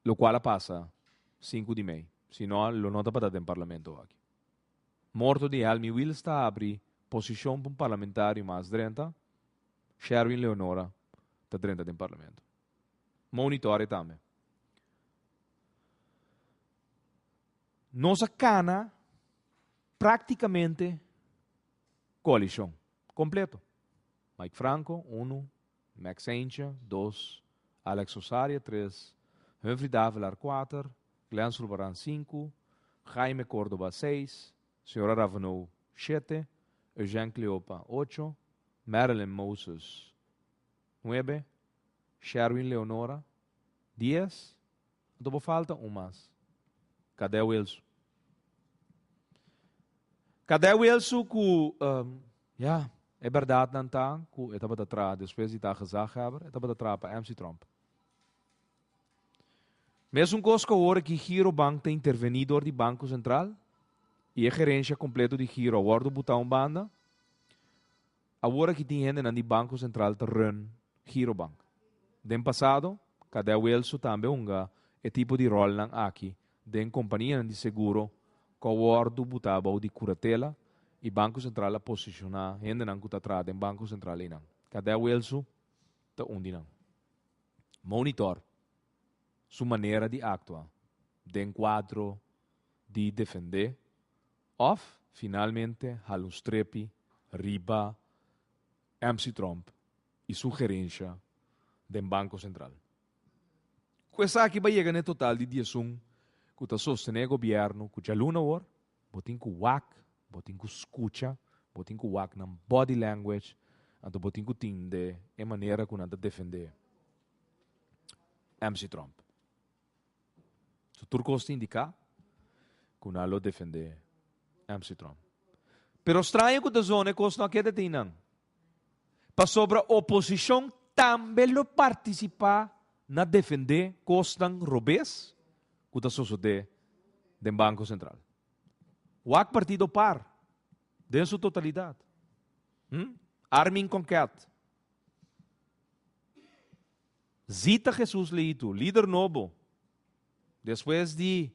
lokual a pasa sinku di mei, si no lo no tabata den parlamento aki. Morto di Helmi Wils ta abri posishon pa un parlamentario mas drenta, Sherwin Leonora ta drenta den parlamento. Monitorea tambe. Nos a kana praktikamente koalishon kompleto. Mike Franco, unu, Max Heinche, dos, Alex Osaria, tres, Humphrey Davelar, kuater, Glen Zurbarán, sinku, Jaime Córdoba, seis, Señora Raveneau, shete, Eugène Cleopa, ocho, Marilyn Moses, nuebe, Sherwin Leonora, dies, Anto bo falta un mas. Kadè Wilsu? Kadè Wilsu ku, ya, e bèrdatnan ta ku e tabata traha despues di ta gezaghèber, e tabata traha pa MC Trump. Mesun kos ku awor aki Girobank ta intervení dor di Banko Sentral i e gerensha kompleto di Giro a wòrdu butá un banda, Awor aki tin hendenan di Banco Central ta run Girobank. Den pasado, Cadet Wilsu tambe hunga e tipo di rolnan aki den companianan di seguro cu a wordo buta bou di curatela y Banco Central a posiciona hendenan cu ta traha den Banco Central eynan. Cadet Wilsu ta un di nan. Monitor su manera di actua den cuadro di defende Òf finalmente hala un strepi riba MC Trump i su gerensha den Banko Sentral. Ku esaki bo a yega na e total di diesun ku ta sostené e gobièrnu ku djaluna awor? Bo tin ku wak, bo tin ku skucha, bo tin ku wak nan body language, anto bo tin ku tinde e manera ku nan ta defendé MC Trump. So tur kos ta indiká ku nan lo defendé MC Trump. Pero straño ku ta zona e kosnan a keda ta i nan, pasobra oposishon tambe lo partisipá na defendé kosnan robes ku ta sosodé den Banko Sentral. Wak partido par den su totalidat. Hm? Armin Conquet. Zita Hesus le itu, lider nobo, despues di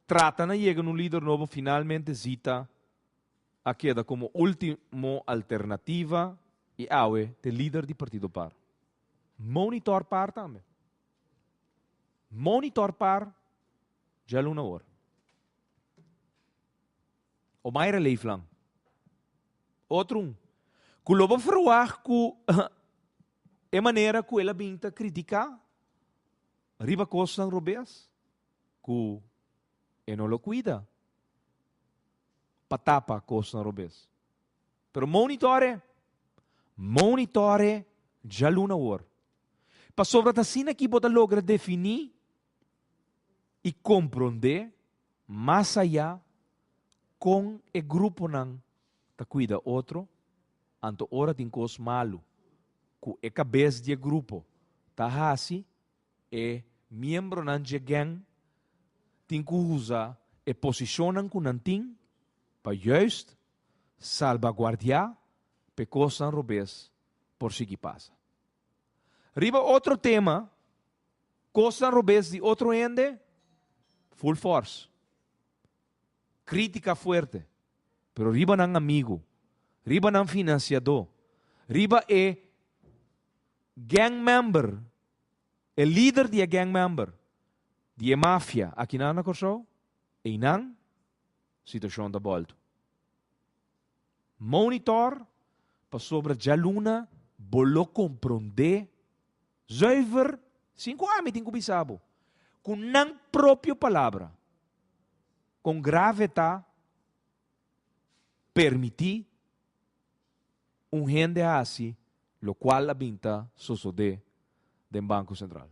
trata na yega na un lider nobo, finalmente Zita a keda komo ultimo alternativa i awe t'e lider di partido par. Monitor par tambe. Monitor par djaluna awor. Omaira leeflang. Otrun. Ku lo bo verwag ku e manera ku el a bin ta kritiká riba kosnan robes ku e no lo kuida pa tapa kosnan robes. Pero Moni Tore, Moni Tore djalun awor. Pasobra ta asina ki bo ta logra definí i komprondé. Mas ayá kon e gruponan ta kuida otro, anto ora tin kos malu ku e kabes di e grupo ta hasi, e miembronan dje gèng tin ku usa e posishonnan ku nan tin pa yùist salbaguardiá pa e kosnan robes por sigui pasa. Riba otro tema. Kosnan robes di otro hende, ful fors. Krítika fuerte, pero riba nan amigu, riba nan finansiadó, riba e gang member, e lider di e gang member, di e mafia aki nan na Kòrsou, einan situashon ta bòltu. Monitor, pasobra djaluna bo lo komprondé. Zuiver, sin ku ami tin ku bisa bo, ku nan propio palabra, kon grave ta permití un hende hasi lokual a bin ta sosodé den Banko Sentral.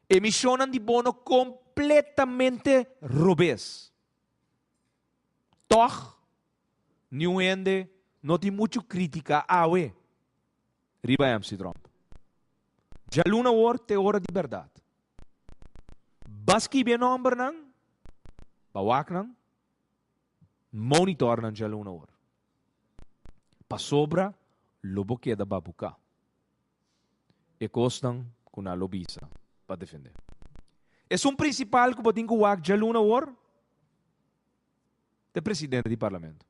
Emishonnan di bono kompletamente robes. Tòg, niun hende no tin muchu krítika awe. riba e mc Drump. Djaluna awor ta e ora di berdad. Ba skibi e nombernan, ba waknan, monitornan djaluna awor. Pasobra lo bo keda ba buka e kosnan ku nan lo bisa pa defende. Esun prinsipal ku bo tin ku wak djaluna awor. te presidente di parlamento,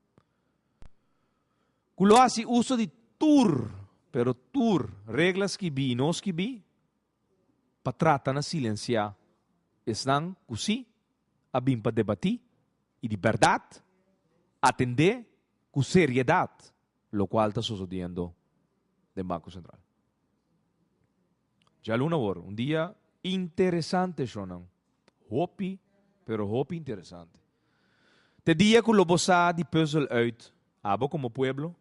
ku lo hasi uso di tur, pero tur, regla skibí i no skibí pa trata na silensiá esnan ku sí a bin pa debatí i di bèrdat atendé ku seriedat lokual ta sosodiendo den Banko Sentral. Djaluna awor, un dia interesante shonnan. Hopi, pero hopi interesante. T'e dia ku lo bo sa di puzzel uit, abo komo pueblo,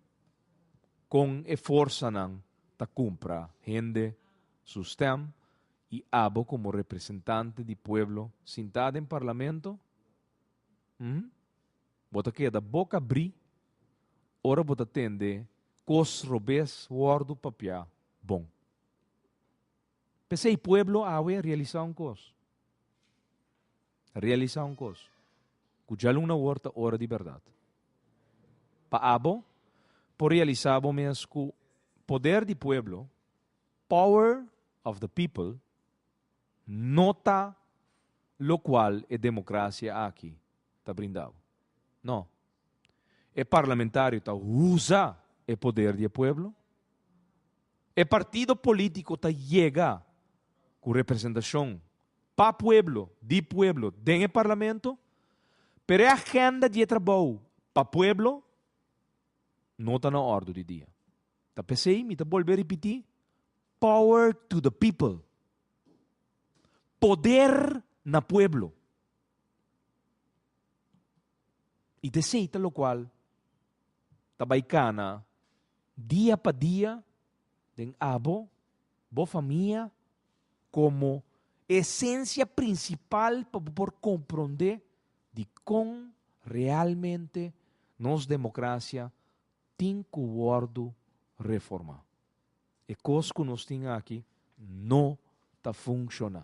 kon e forsanan ta kumpra hende su stèm i abo komo representante di pueblo sintá den parlamento? Hm? Bo ta keda boka bri ora bo ta tende kos robes wòrdu papiá bon. P'esei pueblo awe a realisá un kos, a realisá un kos, ku djalun na wòrd ta ora di bèrdat. Pa abo por realisá bo mes ku poder di pueblo, power of the people, no ta lokual e demokrasia aki ta brinda bo. No. E parlamentario ta usa e poder di e pueblo. E partido politico ta yega cu representacion pa pueblo, di pueblo den e parlamento, pero e agenda di e trabou pa pueblo no ta na ordu di dia. Ta pesey mi ta bolbe ripiti, power to the people, poder na pueblo. I desei ta lokual ta bai kana dia pa dia den abo, bo famia, komo esensia prinsipal pa bo por komprondé dikon realmente nos demokrasia tin ku wòrdu reformá. E kos ku nos tin aki no ta funshoná.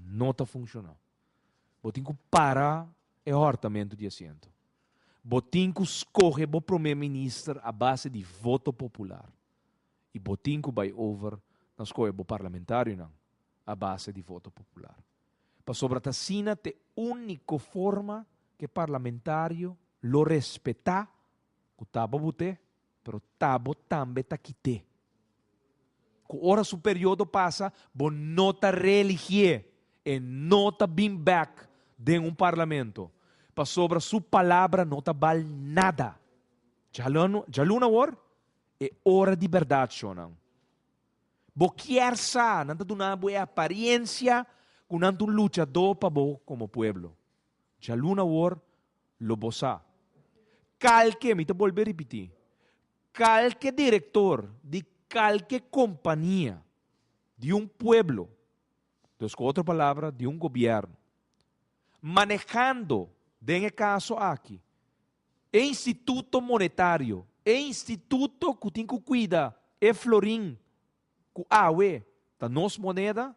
No ta funciona. Bo tin cu para e hortamento di asiento. Bo tin cu scoge bo prome minister a base di voto popular. Y bo tin cu bay over na scoge bo parlamentarionan a base di voto popular. Pasobra ta asina t'e unico forma cu e parlamentario lo respeta cu ta bo bute. Pero ta bo tambe ta kit'é. Ku ora su periodo pasa, bo no ta reeligié. E no ta bin bèk den un parlamento. Pasobra su palabra no ta bal nada. Djalun awor e ora di bèrdat, shownan. Bo kier sa nan ta duna bo e aparensia ku nan ta un luchadó pa bo komo pueblo. Djaluna awor lo bosá. Kalke, mi ta bolbe ripití, kalke direktor di kalke kompania di un pueblo, dus ku otro palabra di un gobièrnu, manehando den e kaso aki e instituto monetario, e instituto ku tin ku kuida e florin Cu awe ta nos moneda?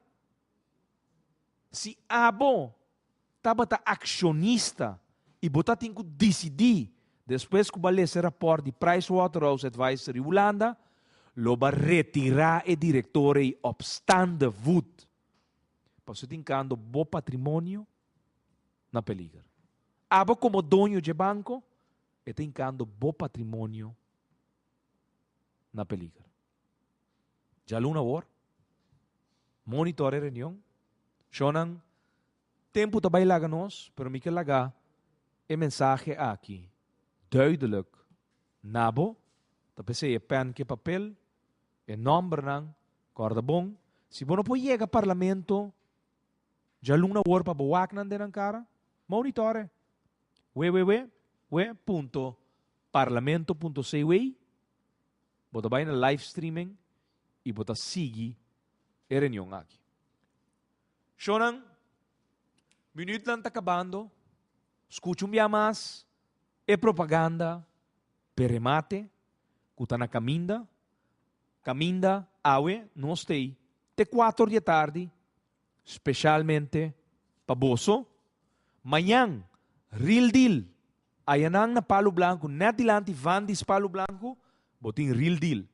Si abo tabata accionista y bo ta tin cu dicidi despues cu bo a lese rapport di Pricewaterhouse Adviser di Hulanda, lo ba retira e director ey op staande voet. Pasobra tin cando bo patrimonio na peliger. Abo como doño dje banco e tin cando bo patrimonio na peliger. Djaluna awor, monitore reunion, shownan tempo ta bai laga nos pero mi ke laga e mensahe aki duidelijk na bo, ta p'esei e pen ku e papel, e nòmbernan, kòrda bon, si bo no por yega Parlamento djaluna awor pa bo wak nan den nan kara, monitore wewewewe punto parlamento punto cw. Bo ta bai na live streaming y bo ta sigui e reunion aki. Shonan, minuutnan ta cabando, scucha un bia mas e propaganda p'e remate cu ta na caminda, caminda awe nos t'ey te cuator di e tardi Specialmente pa boso. Mañan, real deal. Aya nan na Palu Blanku, net dilanti Vandy's Palu Blanku, bo tin real deal.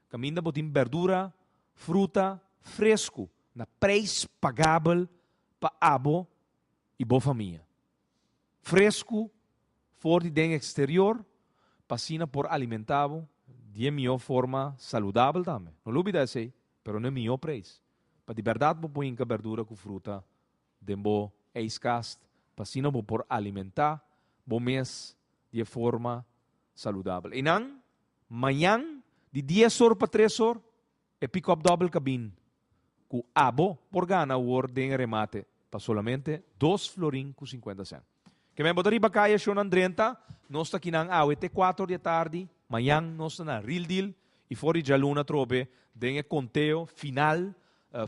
Kaminda bo tin berdura, fruta, fresku na prijs pagabel pa abo i bo famia. Fresku for di den eksterior pa asina por alimenta bo di e mihó forma saludabel tambe. No lo bida esei, pero no e mihó prijs. Pa di bèrdat bo por hinka bèrdura ku fruta den bo eiskast pa asina bo por alimentá bo mes di e forma saludabel. Einan mañan di dies or pa tres or e pick-up dòbel kabin ku abo por gana awor den e remate pa solamente dos florin ku sinkuenta sènt. Ke men bo ta riba kaya shonnan drenta, nos ta kinan awe te kuater di atardi, mañan nos ta na ril dil i for di djaluna trobe den e konteo final,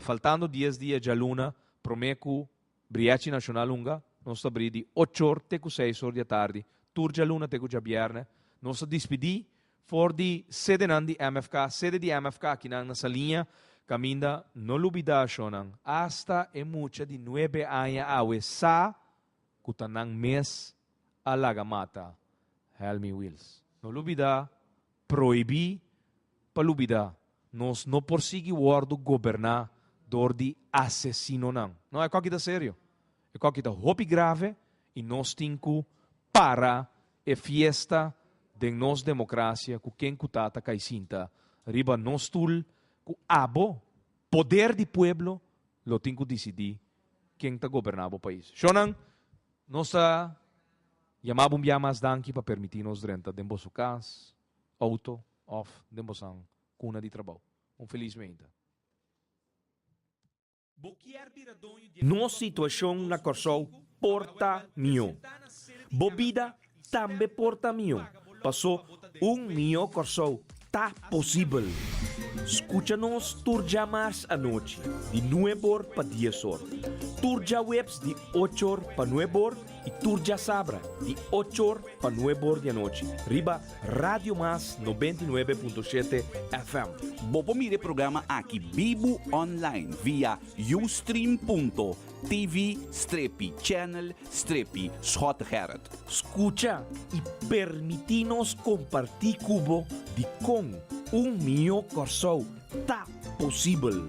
faltando dies dia e djaluna, prome ku Briachi Nashonal Hunga, nos ta bri di ochor te ku seisor di atardi tur djaluna te ku djabierne, nos ta dispidi For di sedenan di MFK, sede di MFK akinan na Saliña, caminda no lubida ashonan, hasta e mucha di nuebe aña awe sa cu ta nan mes a laga mata Helmy Wils. No lubida, prohibi pa lubida, nos no por sigui wordo goberna door di asesinonan. No, e coki ta serio. E kòki ta hopi grave i nos tin ku para e fiesta den nos demokrasia ku ken ku ta ta kai sinta riba nos stul ku abo poder di pueblo lo tin ku disidí ken ta goberná bo pais. Shonnan, nos ta yama bo un bia mas danki pa permití nos drenta den boso kas, outo òf den bosan kuna di trabou. Un felis meinta. Nos situacion na Corsou por ta mihó. Bo bida tambe por ta mihó, paso un mihó Corsou ta posibel! Scucha nos tur djamars anochi di nuebor pa diesor, tur djaweps di ochor pa nuebor, Y tur djasabra di ocho or pa nueb or di anochi riba Radio Mas nobenta i nuebe punto shete FM. Bo por mira e programa aki bibu online via ustream.tv strepi channel strepi Schotegerrit. Scucha y permiti nos comparti cu bo di con un miyo Corsou ta posibel.